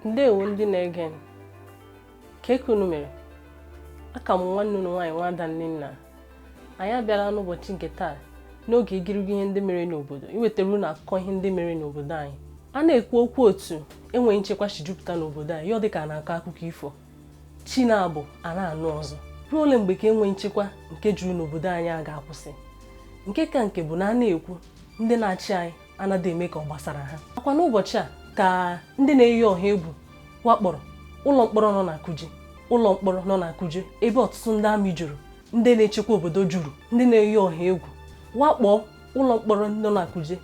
ndewo ndị na-ege m ka unu mere aka m nwanne unu nwaanyị nwada Nnenna anyị abịala n'ụbọchị nke taa n'oge igirigi ihe ndị mere n'obodo iwetara unu akụkọ ihe ndị mere n'obodo anyị a na-ekwu okwu otu enweghị nchekwa si jupụta n'obodo anyị ọ dị ka a na-akọ akụkọ ifo chi na-abọ a na-anụ ọzọ ruo ole mgbe ka enweghị nchekwa nke juru n'obodo anyị a ga-akwụsị nke ka nke bụ na a na-ekwu ndị na-achị anyị anaghị eme ka ọ gbasara ha akwa n'ụbọchị a ka ndị na-eyi ọha egwu wakpọrọ ụlọ mkpọrọ nọ na Kuje ụlọ mkpọrọ nọ na Kuje ebe ọtụtụ ndị amị juru ndị na-echekwa obodo juru ndị na-eyi ọha egwu wakpọọ ụlọ mkpọrọ nọ na Kuje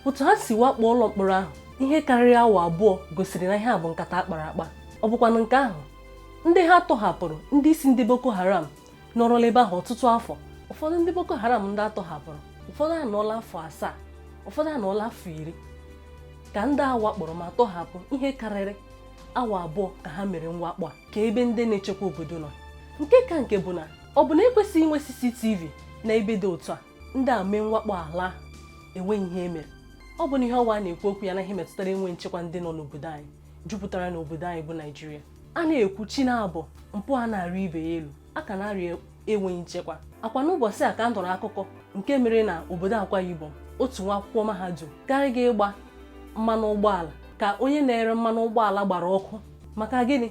otu ha si wakpọọ ụlọ mkpọrọ ahụ ihe karịrị awa abụọ gosiri na ihe a bụ nkata a kpara akpa ọ bụkwanụ nke ahụ ndị ha tọhapụrụ ndị isi ndị Boko Haram nọrọla ebe ahụ ọtụtụ afọ ụfọdụ ndị Boko Haram ndị a tọhapụrụ ụfọdụ anọọla afọ asaa ụfọdụ anọọla afọ iri ka ndị a wakpọrọ ma tọhapụ ihe karịrị awa abụọ ka ha mere mwakpo a ka ebe ndị na-echekwa obodo nọ nke ka nke bụ na ọ bụ na ekwesịghị inwe CCTV na ebe dị otu a ndị a mee mwakpo a laa enweghị ihe e mere ọ bụ na ihe ọwa na-ekwu okwu ya na ihe metụtara enweghị nchekwa ndị nọ n'obodo anyị jupụtara n'obodo anyị bụ Naijiria a na-ekwu chi na-abọ mpụ a na-arị ibe ya elu a ka na-arịa enweghị nchekwa akwa n'ụbọchị a ka a nụrụ akụkọ nke mere na obodo Akwa Ibom otu nwa akwụkwọ mahadum gara ịga ịgba mmanụ ụgbọala ka onye na-ere mmanụ ụgbọala gbara ọkụ maka gịnị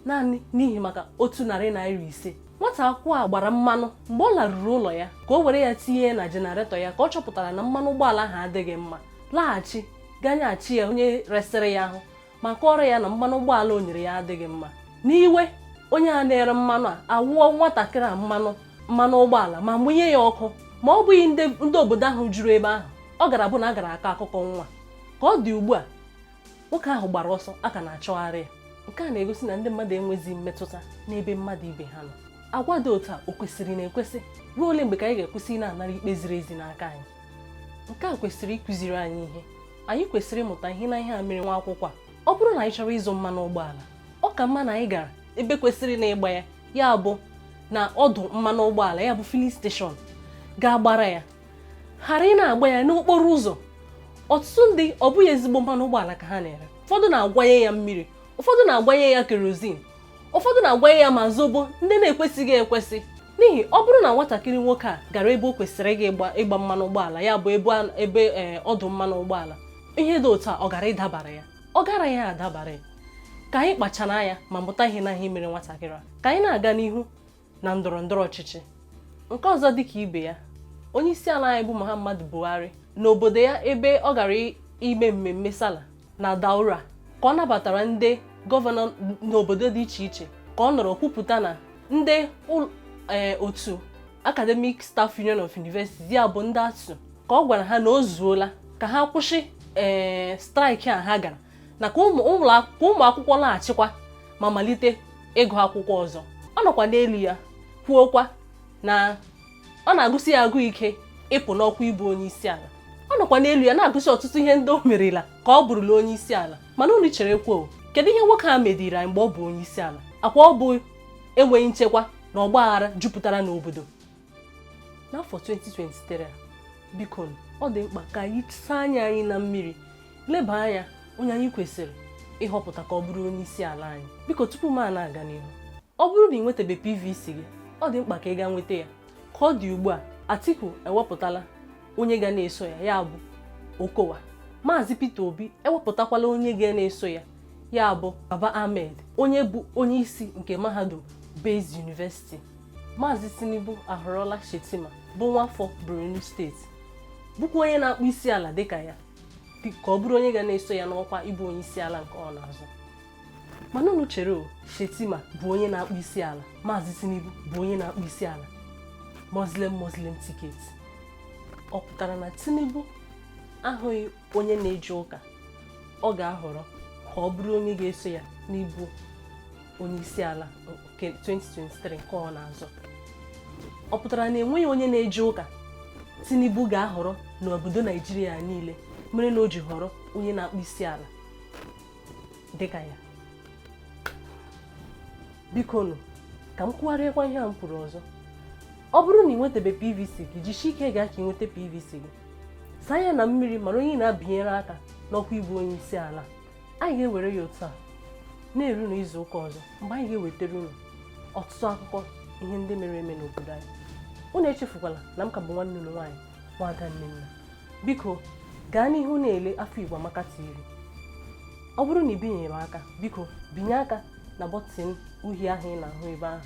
naanị n'ihi maka otu narị naira ise nwata akwụkwọ a gbara mmanụ mgbe ọ laruru ụlọ ya ka o were ya tinye na jenaretọ ya ka ọ chọpụtara na mmanụ ụgbọala ahụ adịghị mma laghachi gaa nyeghachi ya onye resịrị ya ahụ ma kọọrọ ya na mmanụ ụgbọala o nyere ya adịghị mma n'iwe onye a na-ere mmanụ a awụọ nwatakịrị a mmanụ mmanụ ụgbọala ma mụnye ya ọkụ ma ọ bụghị ndị obodo ahụ juru ebe ahụ ọ gaara abụ na a gaara akọ akụkọ nwa ka ọ dị ugbu a nwoke ahụ gbara ọsọ a ka na-achọgharị ya nke a na-egosi na ndị mmadụ enweghịzi mmetụta n'ebe mmadụ ibe ha nọ agwa dị otu a o kwesịrị na-ekwesị ruo ole mgbe ka anyị ga-akwụsị na-anara ikpe ziri ezi n'aka anyị nke a kwesịrị ịkụziri anyị ihe anyị kwesịrị ịmụta ihe na ihe a mere nwa akwụkwọ a ọ bụrụ na anyị chọrọ ịzụ mmanụ ụgbọala ọ ka mma na anyị gara ebe kwesịrị na ịgba ya ya bụ na ọdụ mmanụ ụgbọala ya bụ filling station gaa gbara ya ghara ịna-agba ya n'okporo ụzọ ọtụtụ ndị ọ bụghị ezigbo mmanụ ụgbọala ka ha na-ere ụfọdụ na-agwanye ya mmiri ụfọdụ na-agwanye ya kerozin ụfọdụ na-agwanye ya ma zobo ndị na-ekwesịghị ekwesị n'ihi ọ bụrụ na nwatakịrị nwoke a gara ebe o kwesịrị ịga ịgba ịgba mmanụ ụgbọala ya bụ ebe a- ebe ee, ọdụ mmanụ ụgbọala ihe dị otu a ọ gara ịdabara ya ọ gara adabara ya ka anyị kpachara anya ma mụta ihe na ihe mere nwatakịrị a ka anyị na-aga n'ihu na ndọrọ ndọrọ ọchịchị nke ọzọ dịka ibe ya onye isi ala anyị bụ Muhammadu Buhari n'obodo ya ebe ọ gara i- ime mmemme sala na Daura ka ọ nabatara ndị gọvanọ n'obodo dị iche iche ka ọ nọrọ kwupụta na ndị e, otu Academic Staff Union of Universities ya bụ ndị ASUU ka ọ gwara ha na o zuola ka ha kwụsị ee eh, straịkị a ha gara na ka ụmụ akwụkwọ laghachikwa ma malite ịgụ akwụkwọ ọzọ ọ nọkwa n'elu ya kwuokwa na ọ na-agụsi ya agụụ ike ịpụ n'ọkwa ịbụ onye isi ala ọ nọkwa n'elu ya na-agụsi ọtụtụ ihe ndị o merela ka ọ bụrụla onye isi ala mana unu cherekwa o kedu ihe nwoke a mediri anyị mgbe ọ bụ onye isi ala akwa ọ bụ enweghị nchekwa na ọgba aghara jupụtara n'obodo n'afọ 2023 biko ọ dị mkpa ka anyị saa anya anyị na mmiri leba anya onye anyị kwesịrị ịhọpụta ka ọ bụrụ onye isi ala anyị biko tupu m a na-aga n'ihu ọ bụrụ na ị nwetabe PVC gị ọ dị mkpa ka ị gaa nweta ya ka ọ dị ugbu a Atiku ewepụtala onye ga na-eso ya ya bụ Okowa Maazị Peter Obi ewepụtakwala onye ga na-eso ya ya bụ Baba Ahmed onye bụ onye isi nke mahadum Baze University Maazị Tinubu ahọrọla Shettima bụ nwafọ Borno steeti bụkwa onye na-akpụ isi ala dịka ya ka ọ bụrụ onye ga na-eso ya n'ọkwa ịbụ onye isi ala nke ọ na-azọ mana unu chere o Shettima bụ onye na-akpụ isi ala Maazị Tinubu bụ onye na-akpụ isi ala Muslim Muslim tiketi ọ pụtara na Tinubu ahụghị onye na-eje ụka ọ ga-ahọrọ ka ọ bụrụ onye ga-eso ya n'ịbụ onye isi ala nke 2023 nke ọ na-azọ ọ pụtara na enweghị onye na-eje ụka Tinubu ga-ahọrọ n'obodo Naijiria niile mere na o ji họrọ onye na-akpụ isi ala dịka ya bikonu ka m kwugharịakwa ihe a m kwuru ọzọ ọ bụrụ na ị nwetabe PVC gị jisie ike gaa ka ị nweta PVC gị saa anya na mmiri mara onye ị na-abịnyere aka n'ọkwa ịbụ onye isi ala anyị ga-ewere ya otu a na-eru n'izu ụka ọzọ mgbe anyị ga-ewetara unu ọtụtụ akụkọ ihe ndị mere eme n'obodo anyị unu echefukwala na m ka bụ nwanne unu nwaanyị nwada Nnenna biko gaa n'ihu na-ele afọ Igbo Amaka TV ọ bụrụ na ị binyeghị m aka biko binye aka na bọtịn uhie ahụ ị na-ahụ ebe ahụ